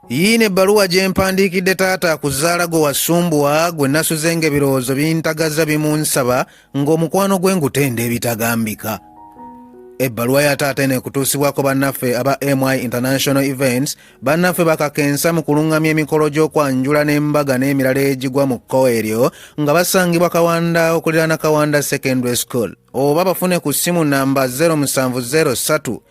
yiino ebbaluwa gye mpandiikidde taata ku zzaala gwe wasumbuwa gwe nasuzenga ebirowoozo bintagaza bimunsaba ng'omukwano gwe ngutenda ebitagambika ebbaluwa ya taata eno ekutuusibwako bannaffe aba my international events bannaffe bakakensa mu kuluŋŋamya emikolo gy'okwanjula n'embaga n'emirala egigwa mu kkowa eryo nga basangibwa kawanda okuliraana kawanda secondary school oba bafune ku ssimu namba 0703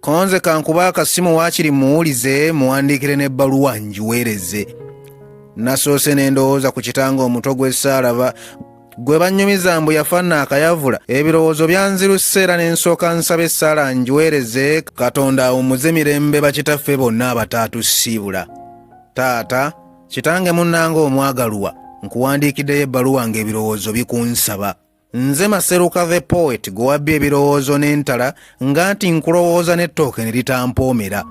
konze kankuba akasimu waakiri muwulize muwandiikire n'ebbaluwa ngiweereze nasoose ne ndowooza ku kitanga omuto gw'essaalaba gwe bannyumiza mbu yafanna akayavula ebirowoozo byanziruse era ne nsooka nsaba essaala ngiweereze katonda awumuze mirembe bakitaffe bonna abataatusiibula taata kitange munnanga omwagalwa nkuwandiikiddeyo ebbaluwa ng'ebirowoozo bikunsaba nze maseruka the poet gwe wabbye ebirowoozo n'entala nga nti nkulowooza n'ettooke ne litampoomera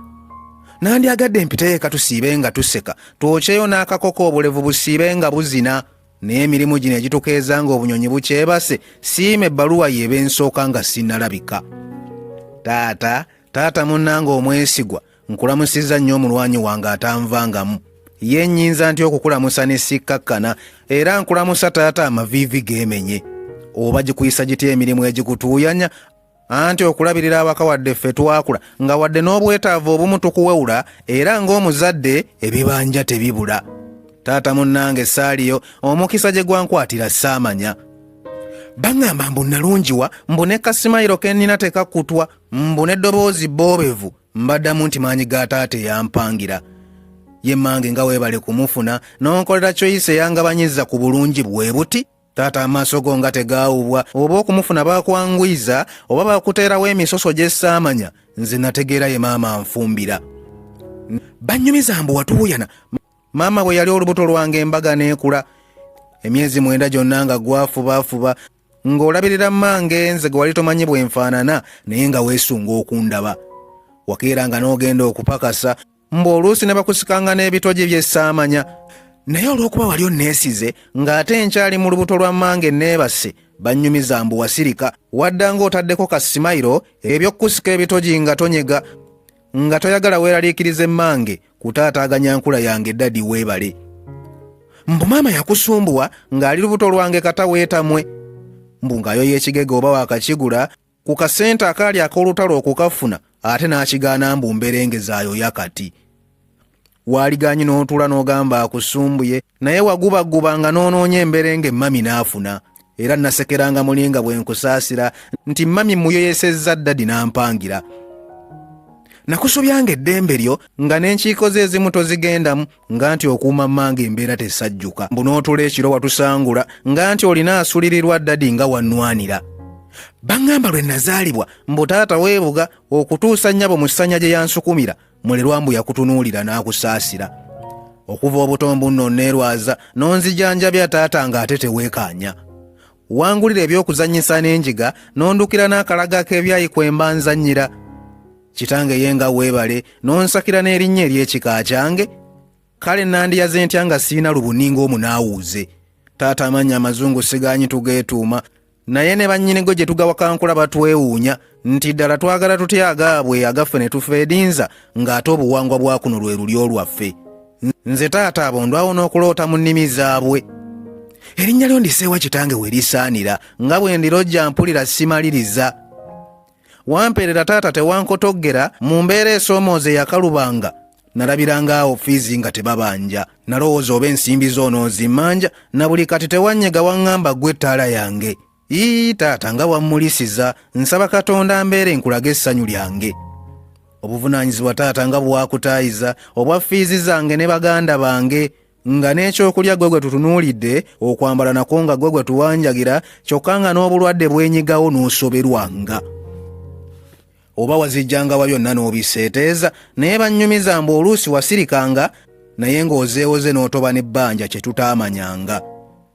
nandyagadde mpiteeka tusiibe nga tuseka twokyeyo n'akakoko obulevu busiibe nga buzina naye emirimu gino egitukeeza nga obunyonyi bukyebase siima ebbaluwa yeeba ensooka nga sinnalabika taata taata munnanga omwesigwa nkulamusizza nnyo omulwanyi wange atanvangamu ye nnyinza nti okukulamusa ne sikkakkana era nkulamusa taata amaviivi geemenye oba gikuyisa gitya emirimu egikutuuyanya anti okulabirira awaka wadde ffe twakula nga wadde n'obwetaavu obumu tukuwewula era ng'omuzadde ebibanja tebibula taata munnange saaliyo omukisa gye gwankwatira saamanya baŋŋamba mbu nnalungiwa mbu ne kasimayiro ke nnina tekakkutwa mbu n'eddoboozi boobevu mbaddamu nti maanyi ga taata eyampangira ye mange nga weebale kumufuna n'onkolera kyoyise eyangabanyiza ku bulungi bwe buti taata amaaso go nga tegaawubwa oba okumufuna baakwanguyiza oba baakuteerawo emisoso gye saamanya nze nategeera ye maama nfumbira bannyumiza mbu watuuyana maama bwe yali olubuto lwange embaga n'ekula emyezi mwenda gyonna nga gwafubaafuba ng'olabirira mmange nze gwe wali tomanyi bwe nfaanana naye nga weesunga okundaba wakeera nga n'ogenda okupakasa mbu oluusi ne bakusikanga n'ebitogi bye saamanya naye olw'okuba wali onneesize ng'ate nkyali mu lubuto lwa mmange neebase bannyumiza mbu wasirika wadda ng'otaddeko ka simayiro eby'okukusika ebitogi nga tonyega nga toyagala weeraliikirize mmange kutaataaganya nkula yange dadi weebale mbu maama yakusumbuwa ng'ali lubuto lwange kata weetamwe mbu ng'ayo y'ekigega oba wakakigula ku kasente akaali ak'olutalo okukafuna ate n'akigaana mbu mberengezaayo yakati waaligaanyi n'otuula n'ogamba akusumbuye naye wagubaguba nga n'onoonya emberenge mami n'afuna era nasekeranga muli nga bwe nkusaasira nti mami muyoyesezza ddadi n'ampangira nakusubyanga eddembe lyo nga n'enkiiko ze ezimu tozigendamu nga nti okuuma mmange embeera tesajjuka mbu n'otula ekiro watusangula nga nti olina asulirirwa ddadi nga wannwanira baŋŋamba lwe nazaalibwa mbu taata weebuga okutuusa nnyabo mu ssanya gye yansukumira mulerwa mbu yakutunuulira n'akusaasira okuva obuto mbu nno nneerwaza n'onzijanjabya taata ng'ate teweekaanya wangulira eby'okuzannyisa n'enjiga n'ondukira n'akalaga k'ebyayi kwe mba nzannyira kitange ye nga weebale n'onsakira n'erinnya ery'ekika kyange kale nandiyaze ntya nga sirina lubuninga omu naawuuze taata amannya amazungu sigaanyi tugeetuuma naye ne bannyinigo gye tugawakankula batwewuunya nti ddala twagala tutya agaabwe agaffe ne tufeedinza ng'ate obuwangwa bwa kuno lwe luli olwaffe nze taata abo ndwawo n'okuloota mu nnimi zaabwe erinnya lyo ndiseewa kitange we lisaanira nga bwe ndirojja mpulira simaliriza wampeerera taata tewankotoggera mu mbeera esoomooza eyakalubanga nalabiranga awo fiizi nga tebabanja nalowooza oba ensimbi zoono nzimmanja na buli kati tewanyega waŋŋamba ggwe ettaala yange ii taata nga wammulisiza nsaba katonda mbeere nkulaga essanyu lyange obuvunaanyizibwa taata nga bwakutaayiza obwa fiizi zange ne baganda bange nga n'ekyokulya gwe gwe tutunuulidde okwambala nakwo nga gwe gwe tuwanjagira kyokka nga n'obulwadde bwenyigawo n'osoberwanga oba wazijjanga wa byonna n'obiseeteeza naye bannyumiza mbu oluusi wasirikanga naye ng'ozeewoze n'otoba n'ebbanja kye tutaamanyanga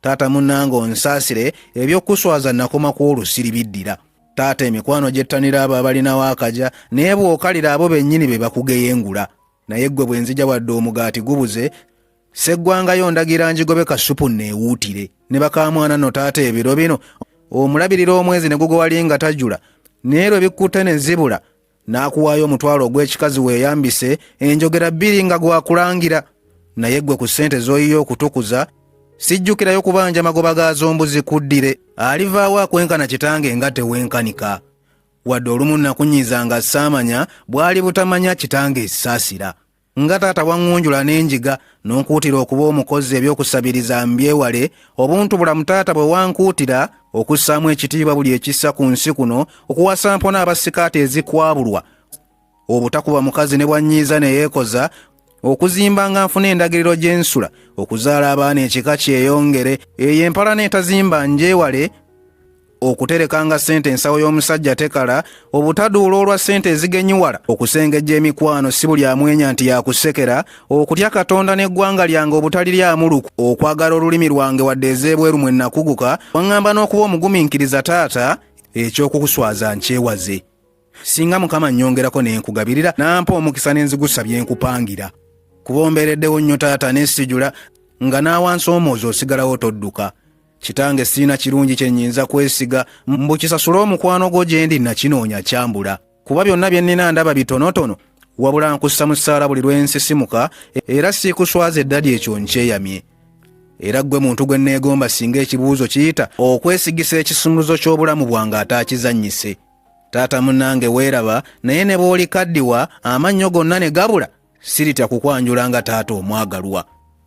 taata munnange onsaasire ebyokuswaza nakoma ku olusiri biddira taata emikwano gyettanira abo abalinawo akaja naye bw'okalira abo bennyini be bakugeyengula naye ggwe bwe nzija wadde omugaati gubuze seggwangayo ndagira njigobe kasupu neewuutire ne bakamwana no taata ebiro bino omulabirira omwezi ne gugowalinga tajula naye lwe bikkutte ne zibula n'akuwaayo omutwalo ogw'ekikazi weeyambise enjogera bbiri nga gwakulangira naye ggwe ku ssente z'oyiye okutukuza sijjukirayo kubanja magoba gaazo mbuzi kuddire alivaawo akwenkana kitange nga tewenkanika wadde olumu nakunyiza nga saamanya bwali butamanya kitange esaasira nga taata waŋŋunjula n'enjiga n'onkuutira okuba omukozi eby'okusabiriza mbyewale obuntu bulamu taata bwe wankuutira okussaamu ekitiibwa buli ekissa ku nsi kuno okuwasa mpona abasikaati ezikwabulwa obutakuba mukazi ne bwannyiiza ne yeekoza okuzimba nga nfuna endagiriro gy'ensula okuzaala abaana ekika kyeyongere eyo empalana etazimba ngyewale okuterekanga ssente ensawo y'omusajja tekala obutaduula olwa ssente ezigenyiwala okusengejja emikwano si buli amwenya nti yakusekera okutya katonda n'eggwanga lyange obutaliryamuluku okwagala olulimi lwange wadde ez'ebweru mwe nakuguka waŋŋamba n'okuba omugumiikiriza taata ekyokukuswaza nkyewaze singa mukama nnyongerako ne nkugabirira nampa omukisa n'enzigusa bye nkupangira kubombereddewo nnyo taata n'esijula nga n'awansi omwozi osigalawo todduka kitange sirina kirungi kye nnyinza kwesiga mbu kisasule omukwano gwo gye ndi nakinoonya kyambula kuba byonna bye nnina ndaba bitonotono wabula nkussa mu ssaala buli lwe nsisimuka era siikuswaza eddadi ekyo nkyeyamye era ggwe muntu gwe nneegomba singa ekibuuzo kiyita okwesigisa ekisumuluzo ky'obulamu bwange ataakizannyise taata munnange weeraba naye ne bw'oli kaddiwa amannyo gonna ne gabula siritya kukwanjula nga taata omwagalwa